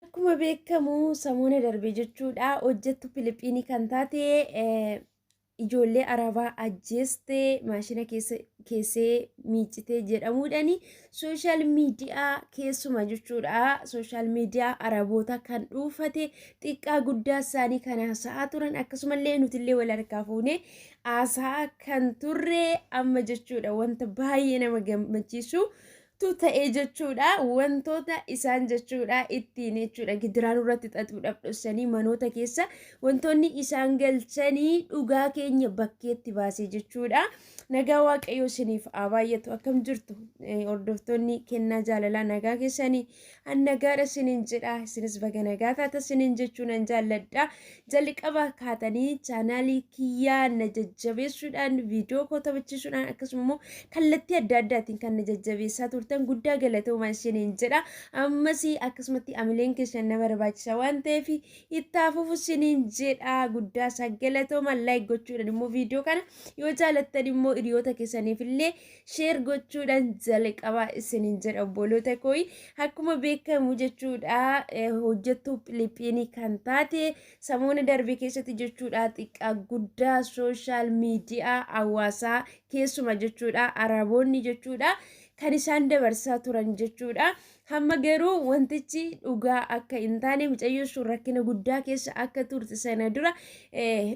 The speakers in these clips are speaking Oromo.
Akkuma beekamu samoona darbe jechuudha hojjettu Filiippiinii kan taate ijoollee arabaa ajjeeste maashina keessee miicitee jedhamuudhaan sooshaal miidiyaa keessuma jechuudha sooshaal miidiyaa araboota kan dhuufate xiqqaa guddaa isaanii kan haasa'aa turan akkasumallee nutillee wal harkaa fuunee haasa'aa kan turre amma jechuudha wanta baay'ee nama gammachiisu tu ta'e jechuudha wantoota isaan jechuudha ittiin jechuudha gidiraa nurratti xaxuudhaaf dhossanii manoota keessa wantoonni isaan galchanii dhugaa keenya bakkeetti baase jechuudha nagaa waaqayyoo isiniif haa baay'atu akkam jirtu Eh, hordoftoonni kennaa jaalalaa nagaa keessanii An nagaadha sinin jedha isinis baga nagaa taata sinin jechuu nan jaalladha jalqaba kaatanii chaanaalii kiyyaa na jajjabeessuudhaan viidiyoo koo taphachiisuudhaan akkasuma immoo kallattii adda addaatiin kan na jajjabeessaa turtan guddaa galatoomaa isiniin jedha ammas akkasumatti amileen keessan na barbaachisa waan ta'eef ittaa fufu isiniin jedha guddaa isaa galatoomaa laayik gochuudhaan immoo viidiyoo kana yoo jaalattan immoo hiriyoota keessaniif illee sheer gochuudhaan jalqabaa isiniin jedha obboloota kooyi akkuma beekamu jechuudha hojjettuu Filiippiinii kan taate samoona darbe keessatti jechuudha xiqqaa guddaa sooshaal miidiyaa hawaasaa keessuma jechuudha araboonni jechuudha kan isaan dabarsaa turan jechuudha Hamma garuu wantichi dhugaa akka hin taane mucayyoo sun rakkina guddaa keessa akka turte sana dura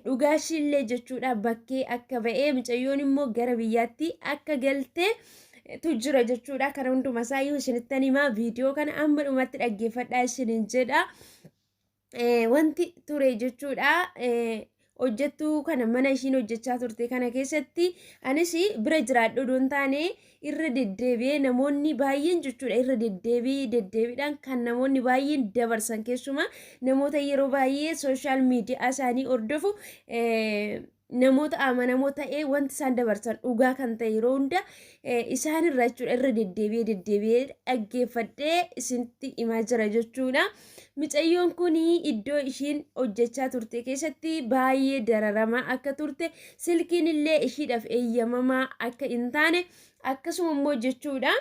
dhugaa ishiillee jechuudha bakkee akka ba'ee mucayyoon immoo gara biyyaatti akka galtee tu jira jechuudha kana hundumaa isaayyuu isinittan himaa viidiyoo kana amma dhumatti dhaggeeffadhaa isinin jedha. wanti ture jechuudha. hojjettuu kana mana ishiin hojjechaa turte kana keessatti anis bira jiraadhu odoon taane irra deddeebi'ee namoonni baay'een jechuudha irra deddeebii deddeebiidhaan kan namoonni baay'een dabarsan keessumaa namoota yeroo baay'ee sooshaal miidiyaa isaanii hordofu namoota amanamoo ta'ee wanti isaan dabarsan dhugaa kan ta'e yeroo hunda isaan irraa jechuudha irra deddeebi'ee deddeebi'ee dhaggeeffadhee isinitti himaa jira jechuudha. Micayyoon kun iddoo ishiin hojjechaa turte keessatti baay'ee dararamaa akka turte silkiin illee ishiidhaaf eeyyamamaa akka hin taane akkasuma immoo jechuudha.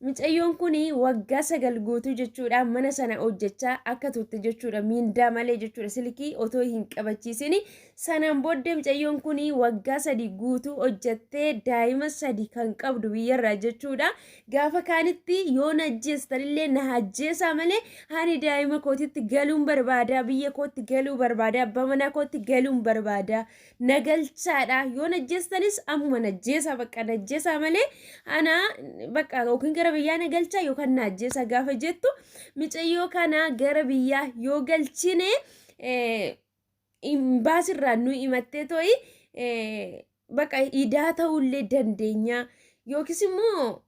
Micayyoon kun waggaa sagal guutuu jechuudha mana sana hojjechaa akka turte jechuudha miindaa malee jechuudha silkii otoo hin qabachiisin sanaan booddee micayyoon kun waggaa sadi guutuu hojjettee daa'ima sadi kan qabdu biyyarraa jechuudha gaafa kaanitti yoo na ajjeestanillee na ajjeesaa malee ani daa'ima kootitti galuun barbaada biyya kootti galuu barbaada abbaa manaa kootti galuun barbaada na galchaadha yoo na ajjeestanis ammuma na ajjeesaa bakka na ajjeesaa malee ana bakka yookiin gara biyyaa na galchaa yookaan na ajjeesaa gaafa jettu micayyoo kana gara biyyaa yoo galchine eh, imbaasirraa nu himattee to'i eh, bakka idaa ta'ullee dandeenya yookiis immoo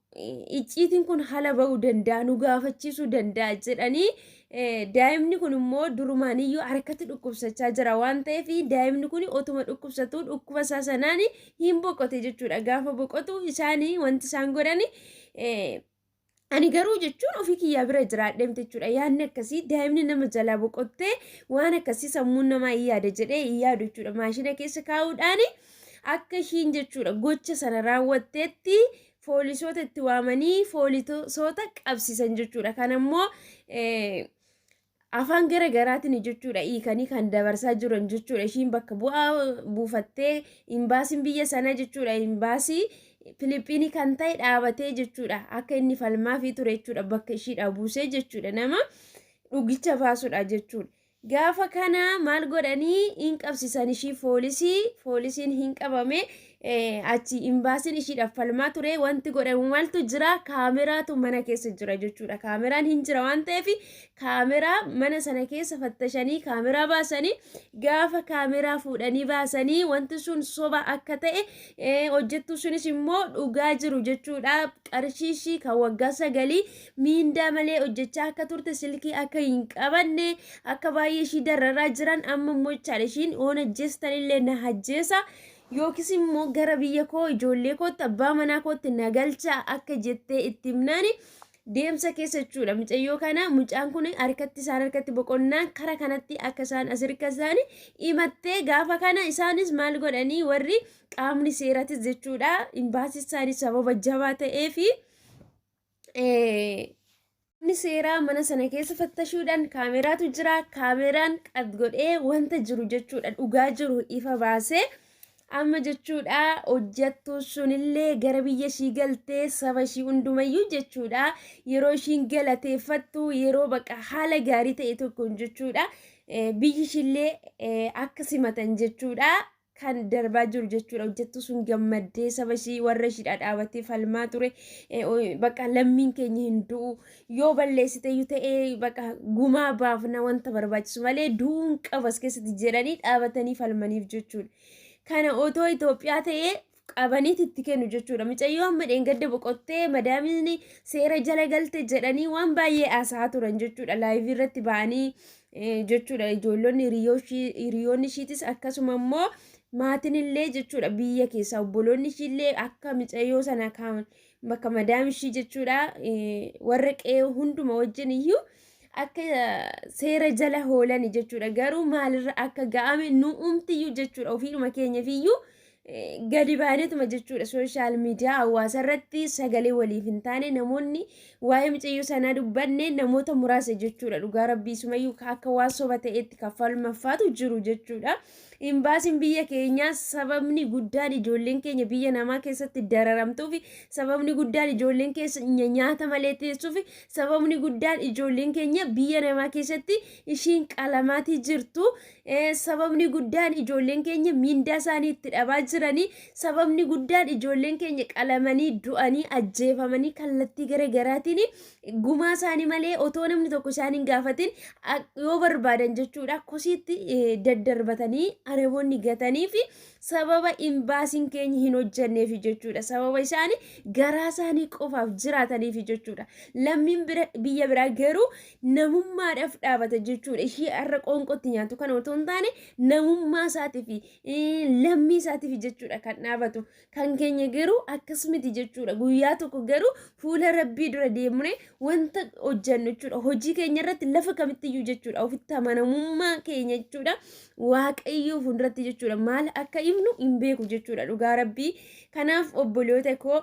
icciitiin kun hala ba'uu danda'a nu gaafachiisuu danda'a jedhanii daa'imni kun immoo durumaaniyyuu harkatti dhukkubsachaa jira waan ta'eef daa'imni kun otuma dhukkubsatuu dhukkuba isaa sanaan hin boqote jechuudha gaafa boqotu isaan wanti isaan godhan ani garuu jechuun ofii kiyyaa bira jiraadheem jechuudha yaadni akkasii daa'imni nama jalaa boqottee waan akkasii sammuun namaa hin yaada jedhee hin yaadu jechuudha maashina keessa kaa'uudhaan akka ishiin jechuudha gocha sana raawwatteetti foolisoota itti waamanii foolisoota qabsiisan jechuudha. Kan ammoo afaan gara garaatiin jechuudha hiikanii kan dabarsaa jiran jechuudha. Ishiin bakka bu'aa buufattee imbaasiin biyya sanaa jechuudha imbaasii Filiippiinii kan ta'e dhaabatee jechuudha. Akka inni falmaafii ture jechuudha bakka ishiidhaa buusee jechuudha nama dhugicha baasudha jechuudha. Gaafa kana maal godhanii hin qabsisan ishii foolisii foolisiin hin qabame achi imbaasiin ishiidhaaf falmaa ture wanti godhamu maaltu jira kaameraatu mana keessa jira jechuudha kaameraan hin jira waan ta'eef kaameraa mana sana keessa fattashanii kaameraa baasanii gaafa kaameraa fuudhanii baasanii wanti sun soba akka ta'e hojjettuu sunis immoo dhugaa jiru jechuudha qarshii ishii kan waggaa sagalii miindaa malee hojjechaa akka turte silkii akka hin qabanne akka baay'ee ishii dararaa jiran amma immoo jechaadha ishiin oon ajjeestan illee na ajjeesa yookiis immoo gara biyya koo ijoollee kootti abbaa manaa kootti na galchaa akka jettee itti himnaani deemsa keessa jechuudha mucayyoo kana mucaan kun harkatti isaan harkatti boqonnaan kara kanatti akka isaan as hirka isaanii himattee gaafa kana isaanis maal godhanii warri qaamni seeratis jechuudha imbaasii isaanii sababa jabaa ta'ee fi Namni seeraa mana sana keessa fattashuudhaan kaameraatu jira. Kaameraan qad godhee wanta jiru jechuudha dhugaa jiru ifa baasee amma jechuudha hojjattuu sunillee gara biyya ishii galtee saba ishii hundumayyuu jechuudha yeroo ishiin galateeffattu yeroo baqa haala gaarii ta'e tokkoon jechuudha biyyi ishiillee akka simatan jechuudha kan darbaa jiru jechuudha. Hojjettuu sun gammaddee saba ishii warra ishii dhadhaabattee falmaa ture. Bakka lammiin keenya hin du'u. Yoo balleessite iyyuu ta'ee bakka gumaa baafna wanta barbaachisu malee du'uun qabas keessatti jedhanii dhaabatanii falmaniif jechuudha. Kana otoo Itoophiyaa ta'ee qabaniiti itti kennu jechuudha. Micayyoo amma dheengadda boqottee madaamiin seera jala galte jedhanii waan baay'ee haasaa turan jechuudha. Laayivii irratti ba'anii jechuudha. Ijoollonni hiriyoonni ishiitis akkasuma immoo maatiin illee jechuudha biyya keessaa obboloonni ishii illee akka micayyoo sana kan bakka madaam ishii jechuudha warra qe'ee hunduma wajjin iyyuu akka seera jala hoolani jechuudha. Garuu maalirra akka ga'ame nu umtiyyuu jechuudha ofiidhuma keenyafiyyuu gadi baanetuma jechuudha sooshaal miidiyaa hawaasa irratti sagalee waliif hin taane namoonni waa'ee mucayyoo sanaa dubbanne namoota muraasa jechuudha dhugaa rabbii sumayyuu akka waan soba ta'etti kaffalmaffaatu jiru jechuudha. Imbaasiin biyya keenyaa sababni guddaan ijoolleen keenya biyya namaa keessatti dararamtuuf sababni guddaan ijoolleen keenya nyaata malee teessuuf sababni guddaan ijoolleen keenya biyya namaa keessatti ishiin qalamaatii jirtu Sababni guddaan ijoolleen keenya miindaa isaanii itti dhabaa jiranii sababni guddaan ijoolleen keenya qalamanii du'anii ajjeefamanii kallattii gara garaatiin gumaa isaanii malee otoo namni tokko isaan hin gaafatin yoo barbaadan jechuudha kosiitti daddarbatanii areboonni gatanii fi sababa imbaasiin keenya hin hojjanneef jechuudha sababa isaanii garaa isaanii qofaaf jiraataniif jechuudha lammiin biyya biraa garuu namummaadhaaf dhaabata jechuudha. Ishii har'a qoonqootti nyaatu kana otoo hin taane namummaa isaatiif lammii isaatiif jechuudha kan dhaabatu. Kan keenya garuu akkas miti jechuudha. Guyyaa tokko garuu fuula rabbii dura deemnee wanta hojjennu jechuudha. Hojii keenya irratti lafa kamittiyyuu jechuudha. Ofitti amanamummaa keenya jechuudha. Waaqayyoo fuulduratti jechuudha. Maal akka himnu hin beeku jechuudha dhugaa rabbii. Kanaaf obboloota koo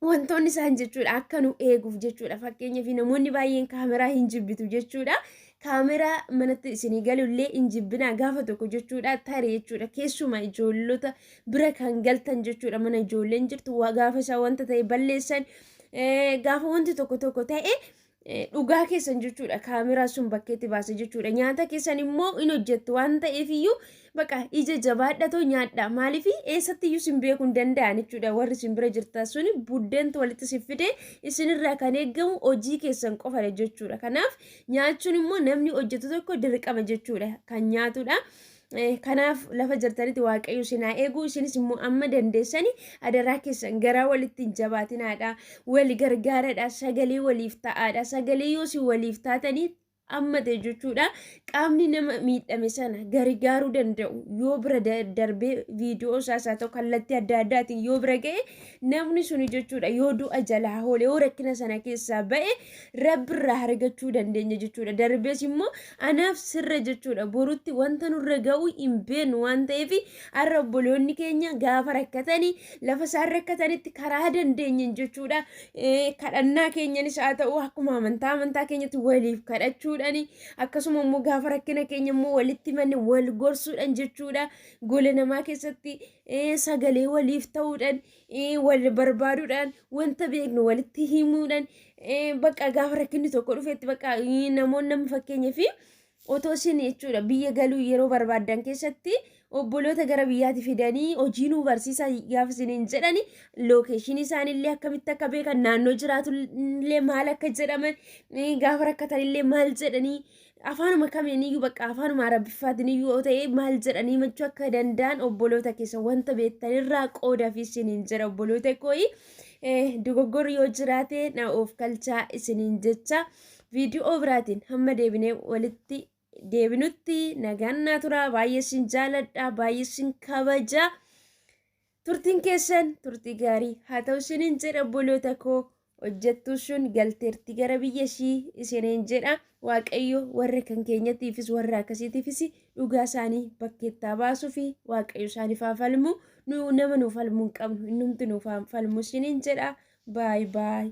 wantoonni isaan jechuudha akka nu eeguuf jechuudha fakkeenyaaf namoonni baay'een kaameraa hin jibbitu jechuudha kaameraa manatti isinii galullee hin jibbinaa gaafa tokko jechuudha tare jechuudha keessuma ijoollota bira kan galtan jechuudha mana ijoolleen jirtu waa gaafa isaa wanta ta'e balleessan eh, gaafa wanti tokko tokko ta'e dhugaa keessan jechuudha kaameraa sun bakkeetti baase jechuudha nyaata keessan immoo in hojjettu waan ta'eef iyyuu baqa ija jabaadhatoo nyaadha maaliif eessatti iyyuu sin beekuu hin danda'an jechuudha warri sin bira jirtan sun buddeentu walitti sin fide isinirraa kan eegamu hojii keessan qofadha jechuudha kanaaf nyaachuun immoo namni hojjetu tokko dirqama jechuudha kan nyaatudha. Kanaaf lafa jirtanitti waaqayyo isin haa eegu isinis immoo amma dandeessani adaraa keessan garaa walitti hin jabaatinaadha wali gargaaradha sagalee waliif ta'aadha sagalee yoo isin waliif taatanii amma ta'e jechuudha qaamni nama miidhame sana gargaaruu danda'u yoo bira darbee viidiyoo isaas haa ta'u kallattii adda addaatiin yoo bira ga'e namni suni jechuudha yoo du'a jalaa hoolee yoo rakkina sana keessaa ba'e rabbirraa argachuu dandeenya jechuudha. Darbees immoo anaaf sirra jechuudha. Borutti wanta nurra ga'u hin beeknu waan ta'eef har'a obboloonni keenya gaafa rakkatanii lafa isaan rakkatanitti karaa dandeenyeen jechuudha. Kadhannaa keenyanis haa ta'u akkuma amantaa amantaa keenyatti waliif kadhachuudhaan akkasuma immoo gaafa rakkina keenya immoo walitti manne wal gorsuudhaan jechuudha. Gola namaa keessatti sagalee waliif ta'uudhaan wal barbaaduudhaan wanta beeknu walitti himuudhaan bakka gaafa rakkinni tokko dhufetti bakka namoonni nama fakkeenyaa fi otoo isin jechuudha biyya galuu yeroo barbaadan keessatti obboloota gara biyyaatti fidanii hojii nuu barsiisaa gaafa isiniin jedhani lookeeshinii isaaniillee akkamitti akka beekan naannoo jiraatullee maal akka jedhaman gaafa rakkatanillee maal jedhanii afaanuma kamiiniyyuu bakka afaanuma arabiffaatiniyyuu yoo ta'e maal jedhanii machuu akka danda'an obboloota keessa wanta beektanirraa qooda fi isiniin jira obboloota kooyi dogoggorri yoo jiraate na of kalchaa isiniin jecha viidiyoo biraatiin hamma deebinee walitti deebinutti nagaan naa tura baay'ee isin jaaladha baay'ee isin kabaja. Turtiin keessan turtii gaarii haa ta'u isiniin jedha obboloota koo hojjettuu sun galteerti gara biyya ishii isiniin jedha waaqayyo warra kan keenyatiifis warra akkasiitiifis dhugaa isaanii bakkeettaa baasuu fi waaqayyo isaaniif haa falmu nu nama nuuf falmuu hin qabnu innumti nuuf haa falmu isiniin jedha baay baay.